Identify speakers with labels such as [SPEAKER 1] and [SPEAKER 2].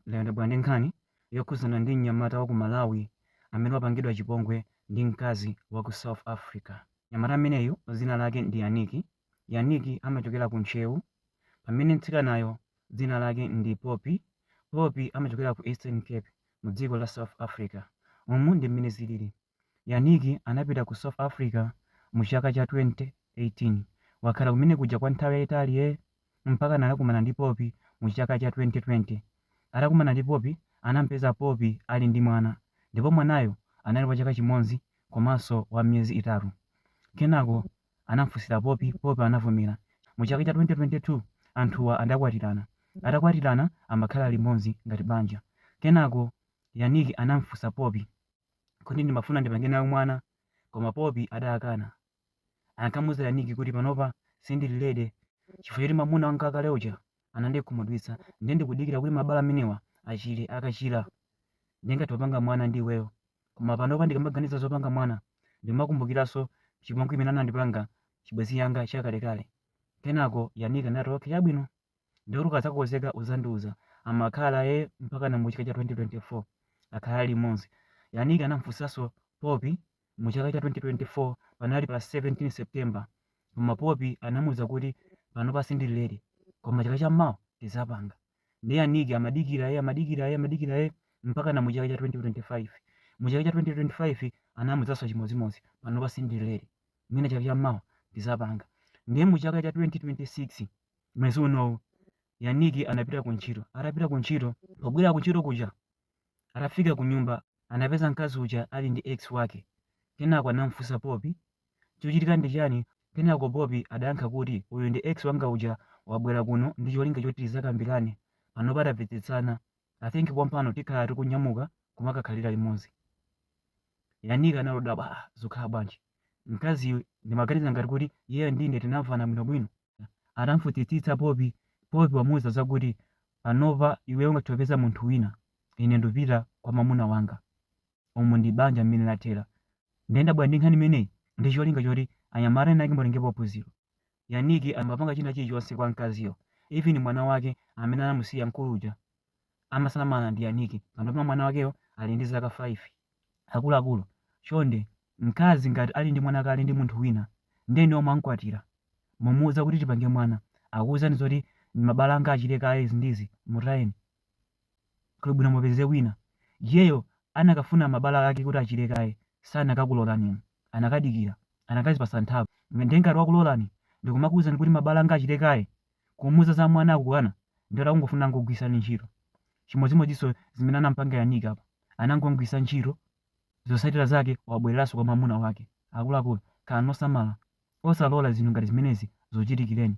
[SPEAKER 1] Lero ndabwera ndi nkhani yokhudzana ndi mnyamata wa ku Malawi amene wapangidwa chipongwe ndi mkazi wa ku South Africa. Mnyamata ameneyu dzina lake ndi Yannick. Yannick amachokera ku Ntcheu pamene mtsikanayo dzina lake ndi Poppy. Poppy amachokera ku Eastern Cape mu dziko la South Africa. Umu ndi mmene zilili. Yannick anapita ku South Africa mu chaka cha 2018. Wakhala kumene kuja kwa nthawi yayitali eee mpakana anakumana ndi Poppy mu chaka cha 2020. Atakumana ndi Poppy anamupeza Poppy ali ndi mwana ndipo mwanayo anali wa chaka chimodzi komanso wa miyezi itatu. Kenako anamufunsira Poppy, Poppy anavomera. Mu chaka cha 2022 anthuwa adakwatirana. Atakwatirana amakhala limodzi ngati banja. Kenako Yannick anamufunsa Poppy. kuti ndimafuna ndipange nawe mwana, koma Popi adakana. Ankamuuza Yannick kuti panopa sindili ready chifukwa choti mwamuna wanga wakale uja anandikhumudwitsa ndiye ndikudikira kuti mabala amenewa achire. Akachira ndingathe kupanga mwana ndi iweyo. Koma panopa ndikamaganiza zopanga mwana ndimakumbukiranso chipongwe chimene anandipanga chibwenzi changa chakalekale. Kenako Yannick anati, Okay, chabwino. ndiye kuti ukadzakonzeka uzandiuza amakhala ye mpakana mu chaka cha 2024 akhala limodzi yannick anamfunsanso popi mu chaka cha 2024 panali pa 17 september koma popi anamuuza kuti panopa sindili ready koma chaka cha mawa tizapanga ndiye yannick amadikira ye amadikira ye amadikira ye mpakana mu chaka cha 2025 mu chaka cha 2025 anamuuzanso chimodzimodzi panopa sindili ready mwina chaka cha mawa tizapanga ndiye mu chaka cha 2026 mwezi unowu yannick anapita ku ntchito atapita ku ntchito pobwera ku ntchito kuja atafika ku nyumba anapeza mkazi uja ali ndi ex wake kenako anamfunsa popi chochitika ndi chani kenako popi adayankha kuti uyu ndi ex wanga uja wabwera kuno ndi cholinga choti tizakambirane panopa tapepesana i think pompano tikhala tikunyamuka kumakakhalira limodzi yannick anangodabwa zokhala bwanji mkaziyu ndimaganiza ngati kuti iyeyo ndine tinamvana bwinobwino Atamfunsitsitsa Popi, Popi wamuuza zakuti, panopa iweyo ungathe kupeza munthu wina, ine ndupita kwa mwamuna wanga. Umu ndi banja mmene lathera. Nde ndabwera ndi nkhani imeneyi ndi cholinga choti anyamata ena ake mutengepo phunziro. Yannick amapanga china chilichonse kwa mkaziyo even mwana wake amene anamusiya mkulu uja. amasamala ndi Yannick panopa mwana wakeyo ali ndi zaka 5. Akuluakulu, chonde, mkazi ngati ali ndi mwana kale ndi munthu wina, ndiye inuyo mwamkwatira, mumuuza kuti tipange mwana, akuuzani zoti mabala anga achire kaye izi ndi izi, mutayeni. Kuli bwino mupeze wina. Iyeyo anakafuna mabala ake kuti achire kaye, sanakakulolani inu. Anakadikira, anakazipatsa nthawi. Ndiye ngati wakulolani ndi kumakuuzani kuti mabala anga achire kaye, Kumuuza za mwana akukana ndiye kuti akungofuna angokugwiritsani ntchito. Chimodzimodzinso zimene anamupanga Yannick apa. Anangomugwiritsa ntchito, zotsatira zake wabwereranso kwa mwamuna wake. Akuluakulu, khalani osamala. Osalola zinthu ngati zimenezi zikuchitikireni.